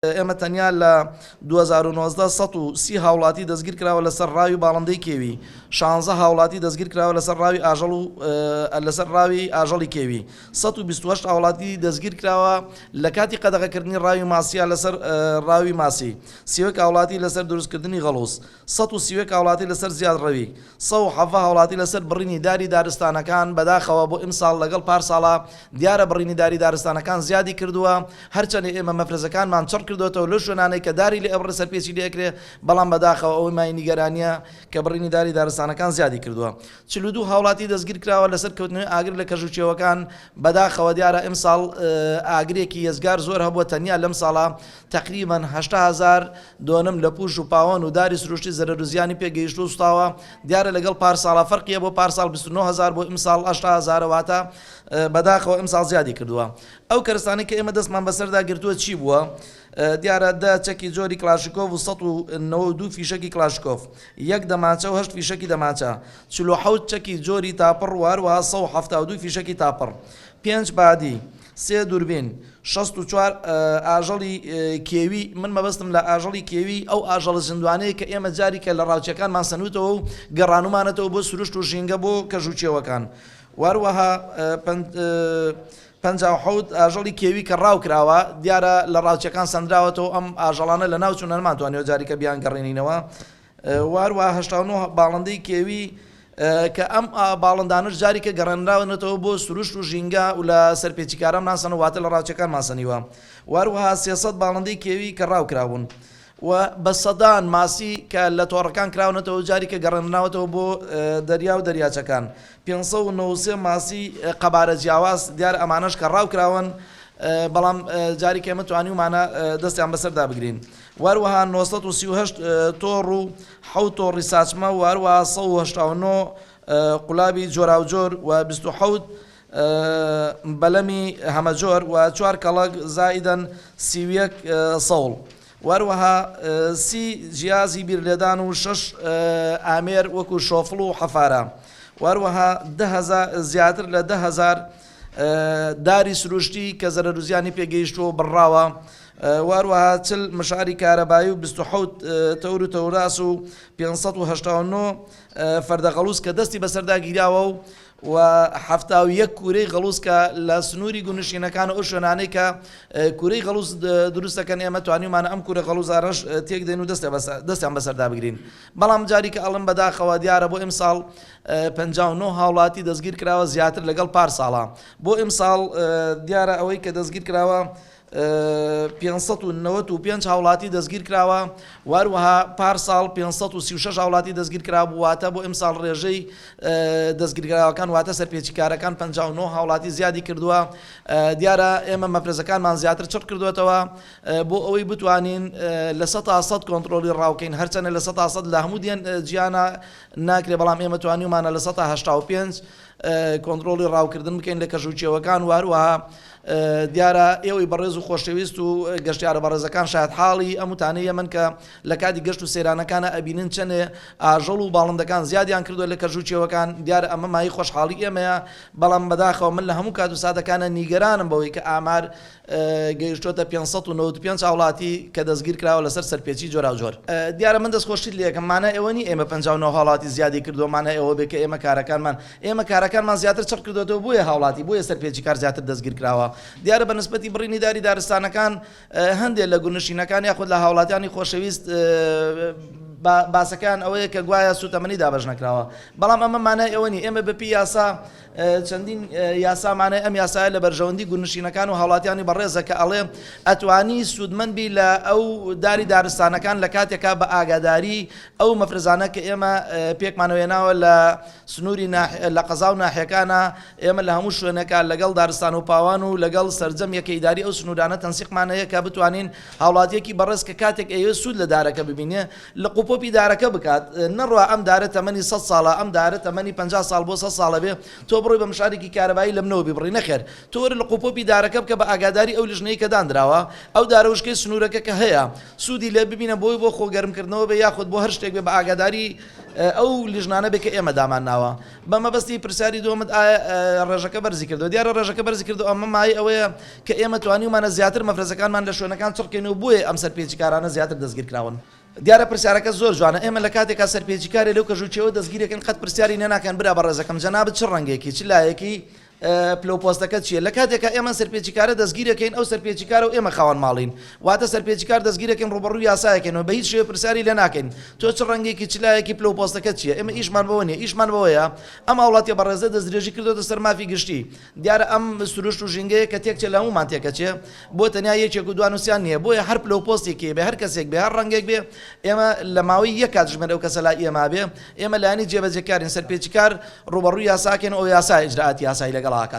ئێمە تەنیا لە دوو هەزار و نۆزدە سەد و سی هاوڵاتی دەستگیرکراوە لەسەر ڕاوی باڵندەی کێوی، شانزە هاوڵاتی دەستگیرکراوە لەسەر ڕاوی ئاژەڵ و لەسەر ڕاوی ئاژەڵی کێوی، سەد و بیست و هەشت هاوڵاتی دەستگیرکراوە لەکاتی قەدەغەکردنی ڕاوی ماسییە لەسەر ڕاوی ماسی، سی و یەک هاوڵاتی لەسەر دروستکردنی غەڵووز. سەد و سی و یەک هاوڵاتی لەسەر زیادڕەوی سەد و حەڤە هاوڵاتی لەسەر بڕینی داری دارستانەکان بەداخەوە بۆ ئیمساڵ لەگەڵ پارساڵا دیارە بڕینی داری دارستانەکان زیادی کردووە هەرچەنێ ئێمە مەفرەزەکانمان چڕ کردۆتەوە لەو شوێنانەی کە داری لێ ئەبڕێ سەرپێچی لێ ئەکرێ بەڵام بەداخەوە ئەوەی مای نیگەرانیە کە بڕینی داری دارستانەکان زیادی کردووە چل و دوو هاوڵاتی دەستگیر کراوە لەسەر کەوتنەوەی ئاگر لە کەژ و چێوەکان بەداخەوە دیارە ئیمساڵ ئاگرێکی یەجگار زۆر هەبووە تەنیا لەمساڵە تەقریبەن هەشتا هەزار دۆنم لە پووش و پاوان و داری سروشتی زەرەر و زیانی پێ گەیشتوو و سوتاوە، دیارە لەگەڵ پارساڵا فەرقیە بۆ پارساڵ بیست و نۆ هەزار بوو ئیمساڵ هەشتا هەزارە واتە بەداخەوە ئیمساڵ زیادی کردووە ئەو کەرستانەی کە ئێمە دەستمان بەسەردا گرتووە چی بووە دیارە دە چەکی جۆری کلاشیکۆف و سەد و نەوە و دوو فیشەکی کلاشکۆف یەک دەمانچە و هەشت فیشەکی دەمانچە چل و حەوت چەکی جۆری تاپڕ و هەروەها سەد و حەفتا و دوو فیشەکی تاپڕ پێنج بادی سێ دوربین، شەست و چوار ئاژەڵی کێوی، من مەبەستم لە ئاژەڵی کێوی ئەو ئاژەڵە زیندوانەیە کە ئێمە جاریکە لە ڕاوچەکانمان سەنوتەوە و گەڕانومانەتەوە بۆ سروشت و ژینگە بۆ کەژ و چێوەکان و هەروەها پەنجا و حەوت ئاژەڵی کێوی کە ڕاوکراوە دیارە لە ڕاوچەکان سەندراوەتەوە ئەم ئاژەڵانە لەناوچوونە نەمانتوانیوە جاریکە بیانگەڕێنینەوە وهەروەها هەشتا و نۆ باڵندەی کێوی کە ئەم باڵندانەش جاریکە گەڕێنراونەتەوە بۆ سروشت و ژینگە و لە سەرپێچیکاران ماسەن و واتە لە ڕاوچەکان ماسەنیوە و هەروەها سێ سەد باڵندەی کێوی کە ڕاو کرابوون و بە سەدان ماسی کە لە تۆڕەکان کراونەتەوە جاریکە گەڕێنراوەتەوە بۆ دەریا و دەریاچەکان پێنج سەد و نەوەد و سێ ماسی قەبارە جیاواز دیارە ئەمانەش کە ڕاو کراون بەڵام جاریکە ئێمە توانیومانە دەستیان بەسەردا بگرین. و هەروەها نۆ سەد و سی و هەشت تۆڕ و حەوت تۆڕی ساچمە و هەروەها سەد و هەشتا و نۆ قولابی جۆراوجۆر و بیست و حەوت بەلەمی هەمەجۆر و چوار کەڵەک زائیدەن سی و یەک سەوڵ و هەروەها سی جیازی بیرلێدان و شەش ئامێر وەکوو شۆفڵ و حەفارە و هەروەها دە هەزار زیاتر لە دە هەزار داری سروشتی کە زەرەر و زیانی پێ گەیشتووە و بڕراوە و هەروەها چل مشاری کارەبایی و بیست و حەوت تەور و تەوراس و پێنج سەد و هەشتا و نۆ فەردە غەڵووز کە دەستی بەسەردا گیراوە و و حەفتا و یەک کوورەی غەڵووز کە لە سنووری گوندنشینەکانە ئەو شوێنانەی کە کوورەی غەڵووز دروست دەکەن ئێمە توانیومانە ئەم کوورە غەڵووزانەش تێک دێن و دەستیان بەسەر دەستیان بەسەردا بگرین بەڵام جاریکە ئەڵێم بەداخەوە دیارە بۆ ئیمساڵ پەنجا و نۆ هاوڵاتی دەستگیر کراوە زیاتر لەگەڵ پارساڵە بۆ ئیمساڵ دیارە ئەوەی کە دەستگیر کراوە پێنج سەد و نەوەد و پێنج هاوڵاتی دەستگیرکراوە و هەروەها پارساڵ پێنج سەد و سی و شەش هاوڵاتی دەستگیرکرابوو واتە بۆ ئەمساڵ ڕێژەی دەستگیرکراوەکان واتە سەرپێچیکارەکان پەنجا و نۆ هاوڵاتی زیادی کردووە دیارە ئێمە مەفرەزەکانمان زیاتر چڕ کردوێتەوە بۆ ئەوەی بتوانین لە سە تا سەد کۆنتترۆلی ڕاوکەین هەرچەنە لە سە تا سەد لە هەموو دیێن جیانە ناکرێ بەڵام ئێمە توانیمانە لە سە تا هەشتا و پێنج کۆنتڕۆڵی ڕاوکردن بکەین لە کەش و کێوەکان و هەروەها دیارە ئێوەی بەڕێز و خۆشەویست و گەشتیارە بەڕێزەکان شاید حاڵی ئەم وتانەی ئەمن کە لە کاتی گەشت و سەیرانەکانە ئەبینن چەندێ ئاژەڵ و باڵندەکان زیادیان کردووە لە کەژ و کێوەکان دیارە ئەمە مایەی خۆشحاڵی ئێمەیە بەڵام بەداخەوە من لە هەموو کات و ساتەکانە نیگەرانم بەوەی کە ئامار گەیشتووەتە پێنج سەد و نەوەد و پێنج هاوڵاتی کە دەستگیرکراوە لەسەر سەرپێچی جۆراوجۆر. دیارە من دەستخۆشیت لێکەم مانا ئەوە نیە ئێمە پەنجا و نۆ هاوڵاتی زیادی کردووە مانای ئەوە بێت کە ئێمە کارەکانمان ئێمە کارەکانمان زیاتر چڕ کردۆتەوە بۆیە هاوڵاتی بۆیە سەرپێچی کار زیاتر دەستگیرکراوە دیارە بە نسبەتی بڕینی داری دارستانەکان هەندێ لە گوندنشینەکان یاخود لە هاوڵاتیانی خۆشەویست باسەکەیان ئەوەیە کە گوایە سوتەمەنی دابەش نەکراوە بەڵام ئەمە مانای ئەوە نیە ئێمە بە پێی یاسا چەندین یاسا مانای ئەم یاسایە لە بەرژەوەندی گوندنشینەکان و هاوڵاتیانی بەڕێزە کە ئەڵێ ئەتوانی سوودمەند بی لە ئەو داری دارستانەکان لە کاتێکا بە ئاگاداری ئەو مەفرەزانە کە ئێمە پێکمانەوە هێناوە لە سنووری لە قەزا و ناحیەکانە ئێمە لە هەموو شوێنەکە لەگەڵ دارستان و پاوان و لەگەڵ سەرجەم یەکە ئیداری ئەو سنوورانە تەنسیقمانەیە کە بتوانین هاوڵاتیەکی بەڕێز کە کاتێک ئەیەوێت سوود لە دارەکە ببینێ لق و پۆپی دارەکە بکات نەڕوا ئەم دارە تەمەنی سەد ساڵە ئەم دارە تەمەنی پەنجا ساڵ بۆ سەد ساڵە بێ تۆ بڕۆی بە مشارێکی کارەبایی لەمنەوە بیبڕی نەخێر تۆ وەرە لق و پۆپی دارەکە بکە بە ئاگاداری ئەو لیژنەی کە داندراوە ئەو دارە وشکەی سنوورەکە کە هەیە سوودی لێ ببینە بۆی بۆ خۆ گەرمکردنەوە بێ یاخود بۆ هەر شتێک بێ بە ئاگاداری ئەو لیژنانە بێ کە ئێمە دامانناوە بە مەبەستی پرسیاری دووەمت ئایا ڕێژەکە بەرزی کردووە، دیارە ڕێژەکە بەرزی کردووە، ئەمە مایەی ئەوەیە کە ئێمە توانیومانە زیاتر مەفرەزەکانمان لە شوێنەکان چڕ کەین و بۆیە ئەم سەرپێچیکارانە زیاتر دەستگیر کراون. دیارە پرسیارەکەت زۆر جوانە، ئێمە لە کاتێکا سەرپێچیکارێ لەو کەژووچیەوە دەستگیر ئەکەین قەت پرسیاری لێ ناکەن برا بەڕێزەکەم جەنابت چ ڕەنگێکی، چ لایەکی پلە و پۆستەکەت چییە؟ لە کاتێکا ئێمە سەرپێچیکارە دەستگیرەکەین، ئەو سەرپێچیکارە و ئێمە خاوەن ماڵین. واتە سەرپێچیکار دەستگیرەکەین ڕووبەڕووی یاسایەکەین و بە هیچ شێوەیەک پرسیاری لێ ناکەین، تۆ چ ڕەنگێکی، چ لایەکی، پلە و پۆستەکەت چییە؟ ئێمە ئیشمان بەوە نییە. ئیشمان بەوەیە ئەم هاوڵاتییە بەڕێزە دەستدرێژی کردۆتە سەر مافی گشتی. دیارە ئەم سروشت و ژینگەیە کە تێکچێ لە هەموومان تێکەچێ. بۆ تەنیا یەکێک و دوانووسیان نییە. بۆیە هەر پلە و پۆستێکی هەبێ، هەر کەسێک بێ، هەر ڕەنگێک بێ، ئێمە لە ماوەی یەک کاتژمێر ئەو کەسە لای ئێمە بێ، ئێمە لایەنی جێبەجێکارین، سەرپێچیکار ڕووبەڕووی یاساکەین و ئەو یاسایە ئیجرائاتی یاسایی لەگەڵ ئاکات.